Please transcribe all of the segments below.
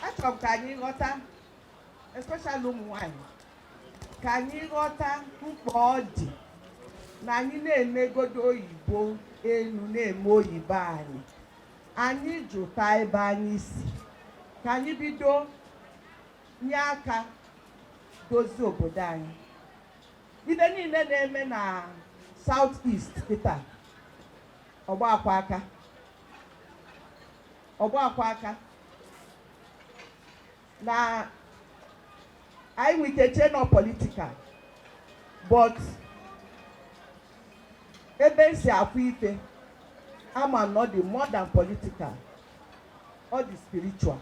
achọrọ m ka anyị ghọta especially ụmụ nwanyị ka anyị ghọta mkpa ọ dị na anyị na-emegodo oyibo elu na-eme oyibo anị anyị jụta ebe anyị si ka anyị bido nye aka dozie obodo anyị ife niile na-eme na South East kịta ọgba akwa aka ọgba akwa aka na anyị nwere ike chee na ọ political but ebe m si afụ ife ama m na ọ dị more than political ọ dị spiritual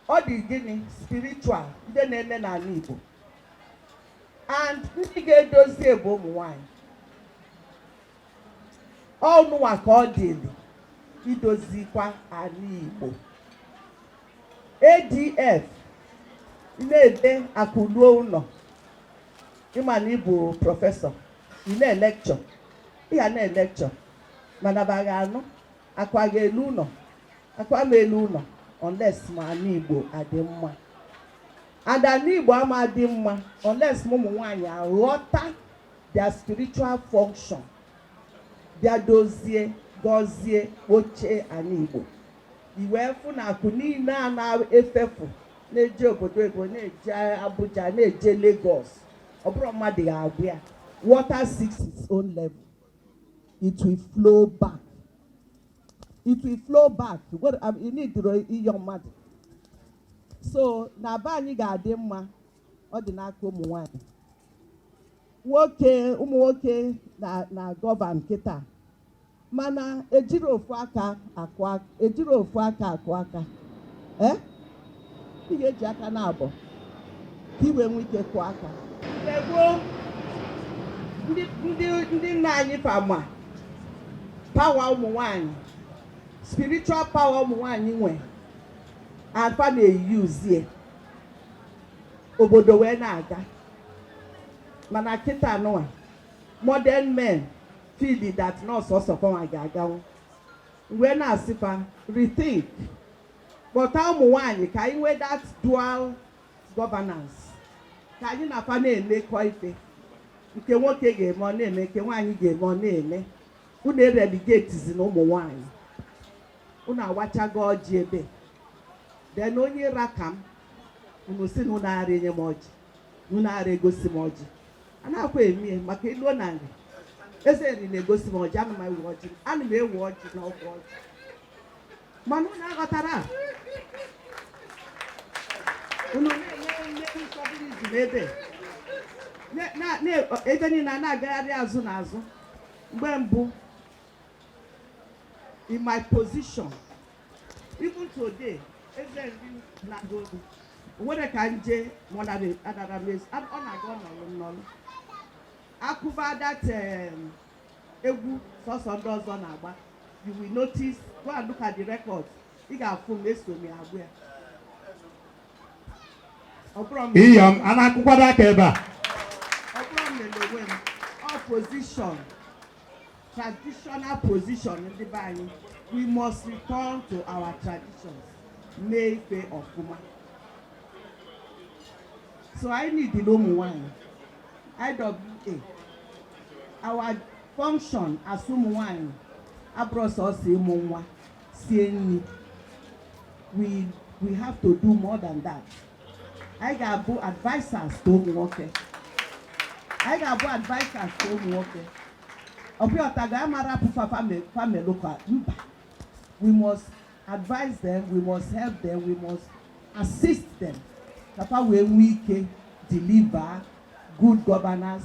ọ dị gịnị spiritual ndị na-eme n'ala Igbo and ndị ga-edozi ya bụ ụmụ nwanyị ọ unuwa ka ọ dịrị idozikwa ala Igbo ADF na-ebe akụ ruo ụlọ ị ma na ị bụ professor ị na-elekchọ ị ga na-elekchọ mana fa agaghị anụ akụ agaghị elu ụlọ akụ ama elu ụlọ unless ma ala Igbo adị mma and ala Igbo ama adị mma unless ma ụmụ nwaanyị aghọta their spiritual function bịa dozie gọzie oche ala Igbo i wee fụ na akụ niile a na-efefu na-eje obodo oyibo na-eje Abuja na-eje Lagos ọ bụrọ mmadụ ga-agwa ya water seeks its own level it will flow back it will flow back you need ịyọ mmadụ so na be anyị ga-adị mma ọ dị n'aka ụmụ nwanyị nwoke ụmụ nwoke na-agọvan kịta mana ejirọ ofu aka akụ aka ejirọ ofu aka akụ aka ee ị ga-eji aka naabọ ka i wee nwee ike kụọ aka Mgbe gboo, ndị ndị ndị nna anyị fa ma power ụmụ nwanyị spiritual power ụmụ nwanyị nwe fa na-eyuzie obodo wee na-aga mana kịta nụwa modern men feel that na ọ sọọsọ fanwa ga-aganwu m wee na-asị fa rethink kpọta ụmụ nwanyị ka anyị nwee that dual governance ka anyị na fa na-emekọ ife nke nwoke ga-eme ọ na-eme nke nwaanyị ga-eme ọ na-eme unu ereligetizina ụmụ nwanyị unu awachago ọjị ebe then onye ra ka m unu si na unu ara enye m ọjị na unu ara egosi m ọjị a na-akwa emie maka iluo na nri eze nri na-egosi m ọjị ana m ewe ọjị ana m ewe ọjị na ọkwa ọjị mana unu aghọtara a? unu na-enye nne nsọpụrụ ebe na- na- na- ebe niile a na-agagharị azụ na azụ mgbe mbụ in my position even today eze nri na-agụ obi nwere ka nje mọnadara mezi ọ na-aga ọnọlụ nnọlụ akụba that egwu sọsọ ndị ọzọ na-agba you will notice go and look at the record ị ga-afụ m eso m agba ya ọ bụrụ m iyom a na-akụkwado aka ebe a ọ bụrọ m mere onwe m ọ position traditional position ndị be anyị we must return to our traditions mee ife ọfụma so anyị ndị ụmụ nwanyị iwa our function as ụmụ nwanyị abụrọ sọsọ ịmụ nwa sie nri we we have to do more than that anyị ga-abụ advisers to ụmụ nwoke anyị ga-abụ advisers to ụmụ nwoke ọbịa ọtago ya ama rapụ fa fa melu gaba we must advise them we must help them we must assist them ka fa wee nwee ike deliver good governance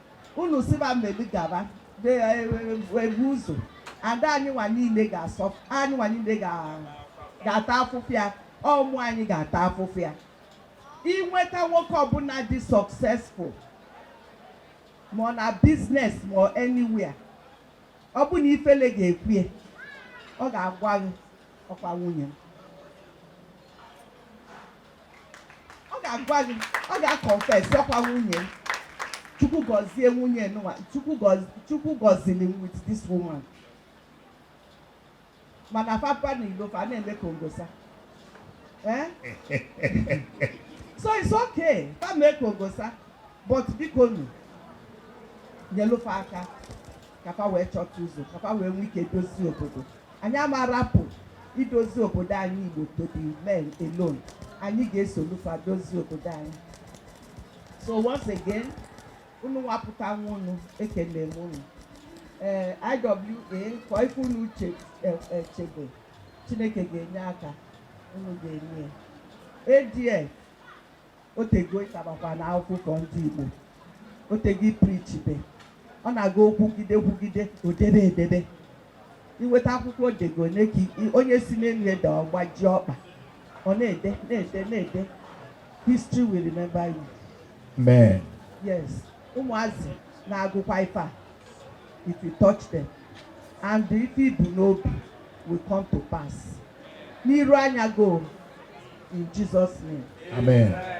unu sị fa melu gaba e, e, ebu ụzọ ada anyị nwa niile ga-asọ anyị nwa niile ga-ata afụfụ ya ụmụ anyị ga-ata afụfụ ya inweta nwoke ọbụla dị successful ma ọ na business ma ọ anywhere ọ bụ na ifele ga-ekwe ya ọ ga-agwa gị ọkwa nwunye m ọ ga-agwa gị ọ ga-confess ọkwa nwunye chukwu gọzie nwunye nwa chukwu gọziri m with this woman mana fa baa na ilo fa na-eme ka ongosa eh? so it's okay fa mee ka ongosa but biko nu nyelu fa aka ka fa wee chọta ụzọ ka fa wee nwee ike dozie obodo anyị ama rapụ idozi obodo anyị igbo to the men alone anyị ga-esolu fa dozie obodo anyị so once again unu wepụta onwe unu ekele m unu ee eh, iwa kọọ ife unu chebe eh, eh, chineke ga-enye aka unu ga-enye ya adf otego ịtabakwa na akwụkwọ ndị Igbo otego ị preachibe ọ na-aga okwugide kwugide odebe edebe iweta akwụkwọ odego ole ka i- onye si n'elu daa ọ gbaji ọkpa ọ na-ede na-ede na-ede history will remember you Amen. yes ụmụazị na-agụkwa ife a it will touch them and the ife ibu n'obi will come to pass n'iru anya go in Jesus name amen